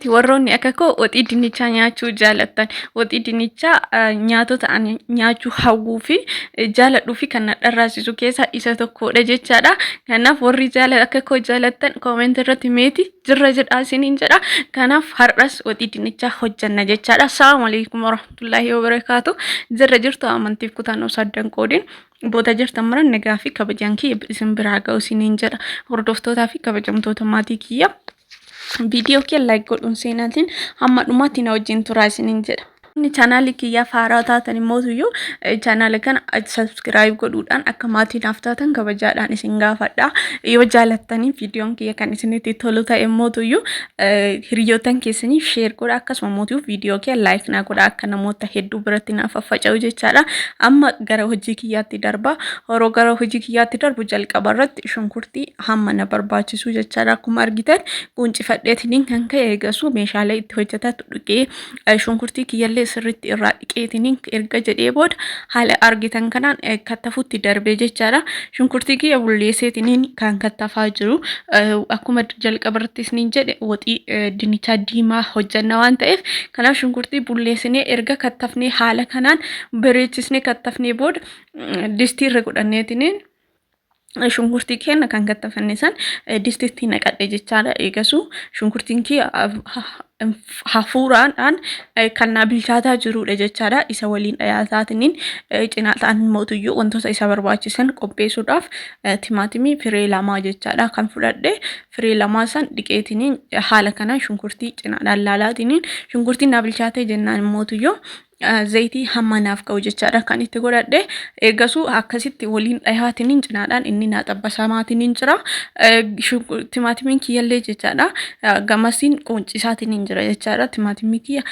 Warroonni akka koo waxii dinnichaa nyaachuu jaalattan waxii dinnichaa nyaatota ani nyaachuu hawwuu fi jaaladhuu fi kan na dharraasisu keessaa isa tokkodha jechaadha. Kanaaf warri jaala akka koo jaalattan koomeenti irratti meeti jirra jedhaa isiniin jedha. Kanaaf har'as waxii dinnichaa hojjanna jechaadha. Assalamu alaikum warahmatullahi wabarakatuh. Jirra jirtu amantiif kutannoo saddan qoodin. Boota jirtan mara nagaa fi kabajaan kiyya isin biraa ga'u isiniin jedha. Hordoftootaa fi kabajamtoota maatii kiyya. Viidiyoo kee like godhuun seenaatiin hamma dhumaatti na wajjin turaa isiniin jedha. Inni chaanaalii kiyyaa faaraa taatan immoo iyyuu chaanaala kana subscribe godhuudhaan akka maatii naaf taatan kabajaadhaan isin gaafadha. Yoo jaalattanii viidiyoon kiyya kan isinitti tolu ta'e immoo iyyuu hiriyootan keessaniif share godha akkasuma mootii viidiyoo kee like naa godha akka namoota hedduu biratti naaf faffaca'u jechaadha. Amma gara hojii kiyyaatti darba. Horoo gara hojii kiyyaatti darbu jalqaba irratti shunkurtii hamma na barbaachisu jechaadha. Akkuma argitan quncifadheetiniin kan ka'e eegasuu meeshaalee itti hojjetatu dhuqee eh, shunkurtii kiyyallee sirriitti irraa dhiqeetiniin erga jedhee booda haala argitan kanaan eh, kattafutti darbee jechaadha. Shunkurtii kiyya bulleesseetiniin kan kattafaa jiru Eh, akkuma jalqaba irratti isiniin jedhe waxii eh, dinnichaa diimaa hojjenna waan ta'eef kanaaf shunkurtii bulleessinee erga kattafnee haala kanaan bareechisnee kattafnee booda mm, distii irra godhanneetiniin shunkurtii keenya kan kattafanne san distitti naqadhe jechaadha. Eegasuu shunkurtiin kiyya hafuuraadhaan kan naa bilchaataa jirudha jechaadha. Isa waliin dhiyaataatiniin cinaataan mootuyyuu wantoota isa barbaachisan qopheessuudhaaf timaatimii firee lamaa jechaadha kan fudhadhe. Firee lamaa san dhiqeetiniin haala kanaan shunkurtii cinaadhaan laalaatiniin shunkurtiin naa bilchaatee jennaan mootuyyuu zayitii hamma naaf ga'u jechaadha kan itti godhadhe eegasuu akkasitti waliin dhihaatiniin cinaadhaan inni naa xabbasaamaatiniin jira timaatimiin kiyyallee jechaadha gamasiin quuncisaatiniin jira jechaadha timaatimii kiyya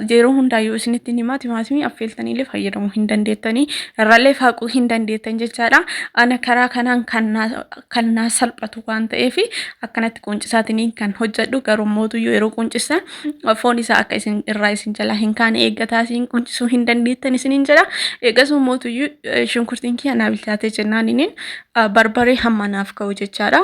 yeroo hundaayyuu isinitti himaa timaatimii affeeltaniillee fayyadamuu hin dandeettanii irrallee faaquu hin dandeettan jechaadha ana karaa kanaan kan naa salphatu waan ta'eef akkanatti quuncisaatiniin kan hojjedhu garuu mootuyyuu yeroo quuncisan foon isaa akka isin irraa isin jalaa hin kaane eeggataa isin quncisuu hin dandeettan isiniin jedha. Eegasuu mootuyyuu eh, shunkurtiin kiyya naa bilchaatee jennaan inin ah, barbaree hamma naaf ka'u jechaadha.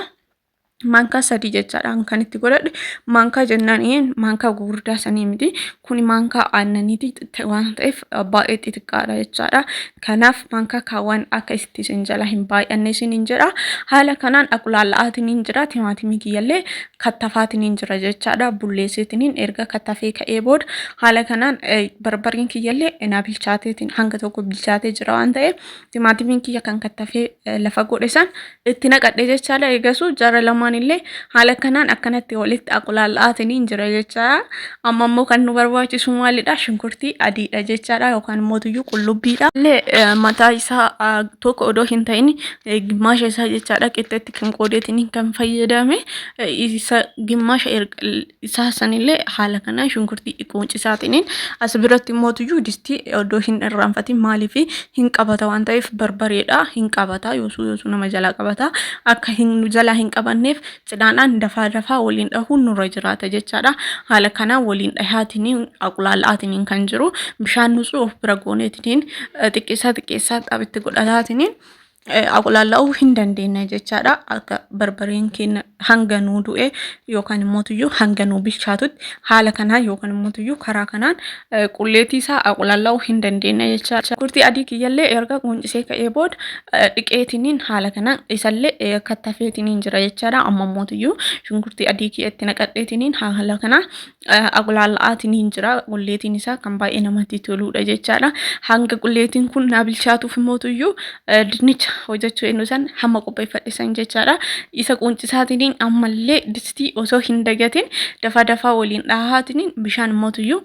Maankaa sadii jechaadha kan itti godhadhe maankaa jennaan inin maankaa gugurdaa sanii miti kuni maankaa aannaniiti xixiqqaa waan ta'eef baay'ee xixiqqaadha jechaadha. Kanaaf manka kaawwan akka itti isin jala hin baay'anne isin hin jedha. Haala kanaan aqulaalla'aatiin hin jira timaatimii kiyyallee kattafaatiin hin jira jechaadha. Bulleesseetiin hin erga kattafee ka'ee booda haala kanaan barbareen kiyyallee na bilchaateetiin hanga tokko bilchaatee jira waan ta'eef timaatimiin kiyya kan kattafee lafa godhe san itti naqadhe jechaadha eegasuu jara lamaan illee haala kanaan akkanatti walitti aqulaalla'aatiniin jira jechaadha amma immoo kan nu barbaachisu maalidha shunkurtii adiidha jechaadha yookaan immoo tuyyuu qullubbiidha illee mataa isaa tokko odoo hin ta'in gimmaasha isaa jechaadha qixxeetti kan qoodeetiniin kan fayyadame isa gimmaasha isaa sanillee haala kanaan shunkurtii xiqqoo cisaatiniin as biratti immoo tuyyuu distii oddoo hin irraanfatiin maaliif hin qabata waan ta'eef barbareedha hin qabata yoosuu yoosuu nama jalaa qabata akka hin nu jalaa hin qabanneef cidhaadhaan dafaa dafaa waliin dhahuun nurra jiraata jechaadha haala kanaan waliin dhahaatiniin aqulaala'aatiniin kan jiru bishaan nusuu of bira gooneetiniin xiqqeessaa xiqqeessaa xabitti godhataatiniin aqulaalla'uu hin dandeenye jechaadha. Akka barbareen keenya hanga nuu du'e yookaan immoo tuyyuu hanga nuu bilchaatutti haala kanaan yookaan immoo tuyyuu karaa kanaan qulleetii isaa aqulaalla'uu hin dandeenye jechaadha. Kurtii adii kiyyallee erga quuncisee ka'ee booda dhiqeetiniin haala kanaan isallee kattafeetiniin jira jechaadha. Amma immoo tuyyuu shunkurtii adii kiyya itti naqadheetiniin haala kanaan Aqulaalla'aatiin hin jira. Qulleetiin isaa kan baay'ee namatti toluudha jechaadha. Hanga qulleetiin kun naa bilchaatuuf immoo tuyyuu dinnicha hojjechuu eenyu san hamma qopheeffadhe san jechaadha. Isa quunchisaatiin ammallee distii osoo hin dagatin dafaa dafaa waliin dhahaatiin bishaan immoo tuyyuu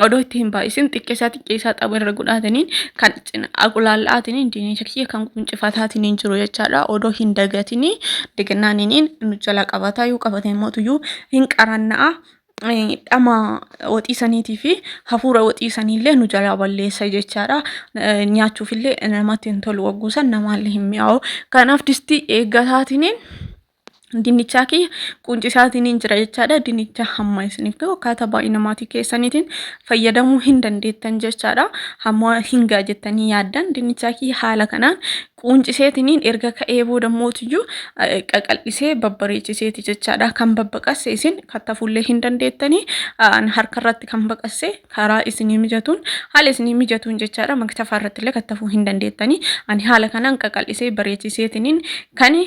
odoo itti hin baay'isin xiqqeessaa xiqqeessaa xaba irra godhaataniin kan Cinaa qulaal'aatiin diinicha kiyya kan quncifataatiin jiru jechaadha. Odoo hin dagatiin dagannaan inni nu jala qabata. Yoo qabate immoo tuyyuu hin qaranna'a. Dhama waxii saniitii fi hafuura waxii saniillee nu jala balleessa jechaadha. Nyaachuufillee namatti hin tolu wagguusan namaallee hin mi'aawu. Kanaaf distii eeggataatiin Dinnichaa kiyya quuncisaatiin hin jira jechaadha. Dinnicha hamma isiniif gahu akkaataa baay'ina maatii keessaniitiin fayyadamuu hin dandeettan jechaadha. Hamma hin ga'a jettanii yaaddan dinnichaa kiyya haala kanaan quunciseetiniin erga ka'ee booda mootiyyuu eh, qaqal'isee babbareechiseeti jechaadha. Kan babbaqasse isin kattafuullee hin dandeettanii aan harkarratti kan baqasse karaa isinii mijatuun haala isinii mijatuun jechaadha. Maktafaa irrattillee kattafuu hin dandeettanii ani haala kanaan qaqal'isee bareechiseetiniin kan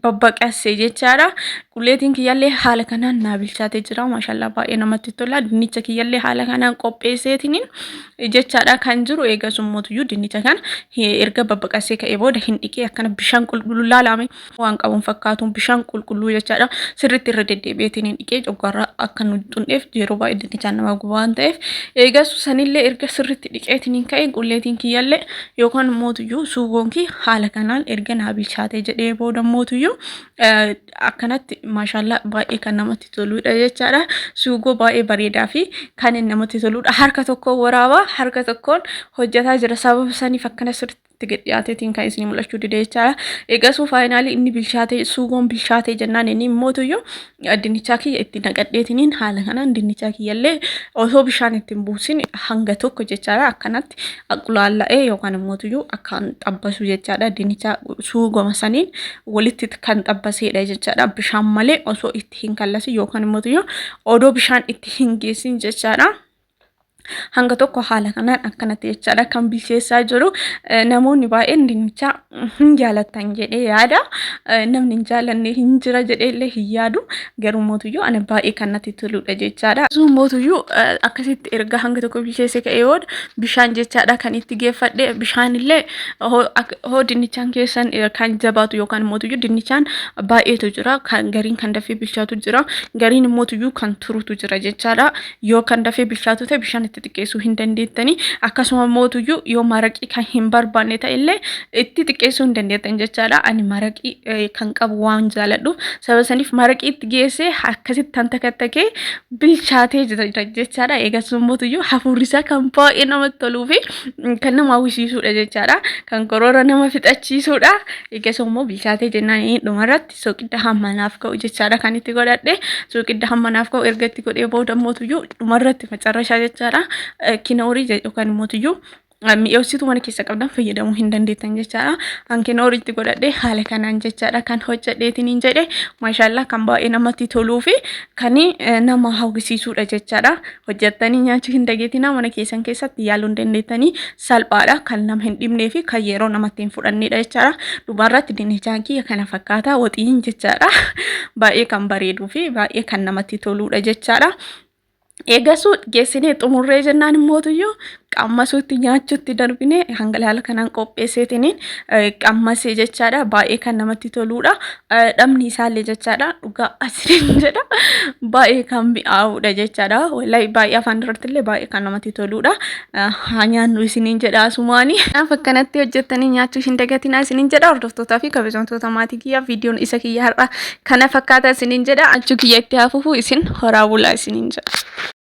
babbaqasse jechaadha. Qulleetiin kiyyallee haala kanaan naa bilchaatee jira. Maashaallah baay'ee namatti tola. Dinnicha kiyyallee haala kanaan qopheesseetiin jechaadha kan jiru. Eegas ummuutuyyuu dinnicha kan erga babbaqassee ka'ee booda hin dhiqee akkana bishaan qulqulluu laalame waan qabuun fakkaatu bishaan qulqulluu jechaadha. Sirriitti irra deddeebi'eetiin hin dhiqee coggaarraa akka nu xundheef yeroo baay'ee dinnichaan nama guba waan ta'eef. Eegas sanillee erga sirriitti dhiqeetiin hin ka'e qulleetiin kiyyallee yookaan mootuyyuu suugoon kee haala kanaan erga naa bilchaatee jedhee booda mootuyyuu akkanatti maashaallaa baay'ee kan namatti toludha jechaadha. Suugoo baay'ee bareedaa fi kan inni namatti toludha. Harka tokkoon waraabaa harka tokkoon hojjetaa jira sababa saniif akkana sirriitti gad dhiyaateetiin kan isin mul'achuu dide jechaadha. Eegasuu faayinaalii inni bilchaatee suugoon bilchaatee jennaan inni mootuyyuu dinnichaa kiyya itti naqadheetiniin haala kanaan dinnichaa kiyyallee osoo bishaan ittiin buusin hanga tokko jechaadha akkanatti qulaalla'ee yookaan immoo tuyyuu akkaan xabbasu jechaadha dinnicha suugoma saniin walitti kan xabbaseedha jechaadha bishaan malee osoo itti hin kallasin yookaan immoo tuyyuu odoo bishaan itti hin geessin jechaadha. hanga tokko haala kanaan akkanatti jechaadha kan bilcheessaa jiru namoonni baay'een dinnicha hin jaalatan jedhee yaada namni hin jaalanne hin jira jedhee illee hin yaadu garuu mootuyyuu ana baay'ee kan natti toludha jechaadha. Sun mootuyyuu akkasitti erga hanga tokko bilcheesse ka'ee booda bishaan jechaadha kan itti geeffadhe bishaan illee hoo dinnichaan keessan kan jabaatu yookaan mootuyyuu dinnichaan baay'eetu jira kan gariin kan dafee bilchaatu jira gariin mootuyyuu kan turutu jira jechaadha yoo kan dafee bilchaatu ta'e bishaan itti xiqqeessuu hin dandeettanii akkasuma mootuyyuu yoo maraqii kan hin barbaanne ta'e illee itti xiqqeessuu hin dandeettan jechaadha ani maraqii eh, kan qabu waan jaaladhu sababa saniif maraqii itti geessee akkasitti tan takattakee bilchaatee jira jira jechaadha eegasuma mootuyyuu hafuurri isaa kan baay'ee namatti toluu fi mm, kan nama hawwisiisuudha jechaadha kan koroora nama fixachiisuudha eegasuma immoo bilchaatee jennaan eh, dhumarratti soqidda hamma naaf ka'u jechaadha kan itti godhadhe soqidda hamma naaf ka'u erga itti godhee booda mootuyyuu dhumarratti macarrashaa jechaadha kinoorii yookaan mootuyyuu mi'eessituu mana keessa qabdan fayyadamuu hin dandeettan jechaadha kan kinoorii itti godhadhe haala kanaan jechaadha kan hojjedheetiin hin jedhe maashaallaa kan baay'ee namatti toluu fi kan nama hawwisiisuudha jechaadha hojjettanii nyaachuu hin dageetina mana keessan keessatti yaaluu hin dandeettanii salphaadha kan nama hin dhibnee fi kan yeroo namatti hin fudhanneedha jechaadha. Dhumarratti dinnichaan kiyya kana fakkaataa waxiin jechaadha. Baay'ee kan bareeduu fi baay'ee kan namatti toluudha jechaadha. Eegasuu geessinee xumurree jennaan immootuyyuu qammasuutti nyaachuutti darbinee hangalaala kanaan qopheesseetiniin qammasee jechaadha. Baay'ee kan namatti toluudha. dhabni isaallee jechaadha dhugaa asiin jedha baay'ee kan mi'aawudha jechaadha wallahi baay'ee afaan irratti illee baay'ee kan namatti toludha haa nyaannu isiniin jedha asumaani kanaaf akkanatti hojjettanii nyaachuu hin dagatinaa isiniin jedha hordoftootaa fi kabajamtoota maatii kiyya viidiyoon isa kiyya har'a kana fakkaata isiniin jedha achuu kiyya itti hafufu isin horaa bulaa isiniin jedha.